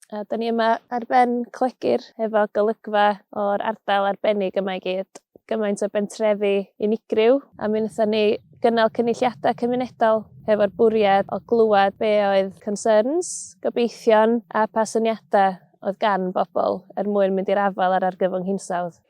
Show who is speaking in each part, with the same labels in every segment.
Speaker 1: A da ni yma ar ben Clegur efo golygfa o'r ardal arbennig yma i gyd. Gymaint o bentrefi unigryw a mi wnaethon ni gynnal cynulliadau cymunedol hefo'r bwriad o glywed be oedd concerns, gobeithion a pa syniadau oedd gan bobl er mwyn mynd i'r afael â'r argyfwng hinsawdd.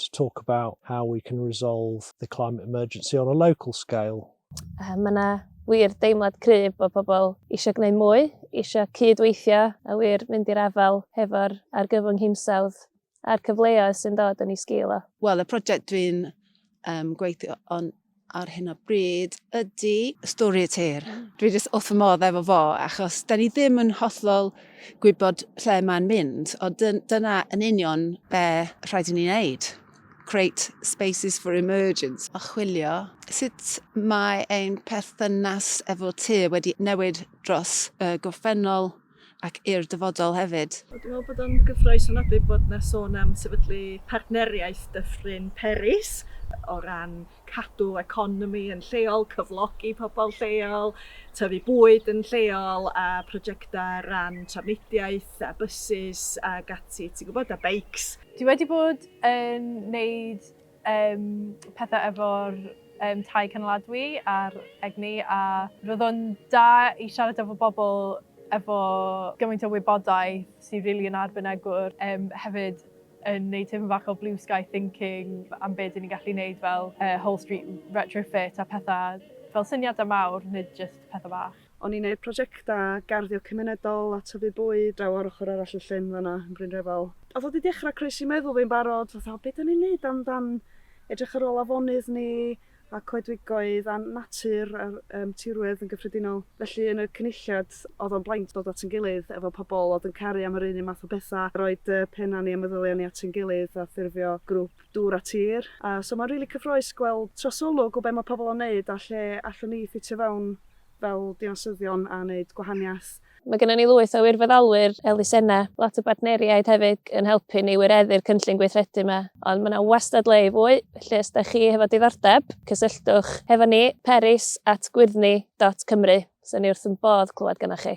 Speaker 2: to talk about how we can resolve the climate emergency on a local scale. Uh, mae yna
Speaker 1: wir deimlad cryf bod pobl eisiau gwneud mwy, eisiau cydweithio a wir mynd i'r afael hefo'r argyfwng hinsawdd a'r cyfleoedd sy'n dod yn ei sgil o. Wel, y prosiect dwi'n
Speaker 3: um, gweithio on ar hyn o bryd ydy Story a Tear. Mm. Dwi jyst wrth fy modd efo fo, achos da ni ddim yn hollol gwybod lle mae'n mynd, o dyna yn union be rhaid i ni wneud. Create spaces for emergence, a chwilio sut mae ein perthynas efo te wedi newid dros y gorffennol ac i'r dyfodol hefyd. Wel, dwi'n meddwl bod o'n gyffrous
Speaker 4: ofnadwy bod 'na sôn am sefydlu partneriaeth Dyffryn Peris o ran cadw economi yn lleol, cyflogi pobl lleol, tyfu bwyd yn lleol a prosiectau ran trafnidiaeth a bysus ac ati, ti'n gwybod, a beics. Dwi wedi bod
Speaker 5: yn wneud Yym pethau efo'r yym tai cynaliadwy a'r egni a roedd o'n da i siarad efo bobl efo gymaint o wybodaeth sydd rili yn arbenigwr yym hefyd yn neud tipyn bach o blue sky thinking am be' 'dyn ni'n gallu neud fel yy whole street retrofit a petha fel syniadau mawr nid jyst petha bach. O'n i'n neud projectau
Speaker 4: garddio cymunedol a tyfu bwyd draw ar ochr arall y llyn fan'na yn Bryn Refal. Oedd o 'di dechrau croesi meddwl fi'n barod, fatha 'o be' 'dan ni'n neud am dan edrych ar ôl afonydd ni a coedwigoedd a natur a'r yym tirwedd yn gyffredinol. Felly yn y Cynulliad oedd o'n braint dod at ein gilydd efo pobl oedd yn caru am yr un un math o betha, roid yy pennau ni a meddyliau ni at ein gilydd a ffurfio grŵp dŵr a tir. A so ma'n rili cyffrous gweld trosolwg o be' ma' pobl yn neud a lle allwn ni ffitio fewn. fel dinasyddion a wneud gwahaniaeth. Mae gennym ni lwyth
Speaker 1: o wirfoddolwyr elusennau, lot o bartneriaid hefyd yn helpu ni wireddu'r cynllun gweithredu yma, ond mae yna wastad le i fwy, felly os ydych chi hefo diddordeb, cysylltwch hefo ni, peris at gwyrddni dot cymru. Fyswn ni wrth ein bodd clywed gynnoch chi.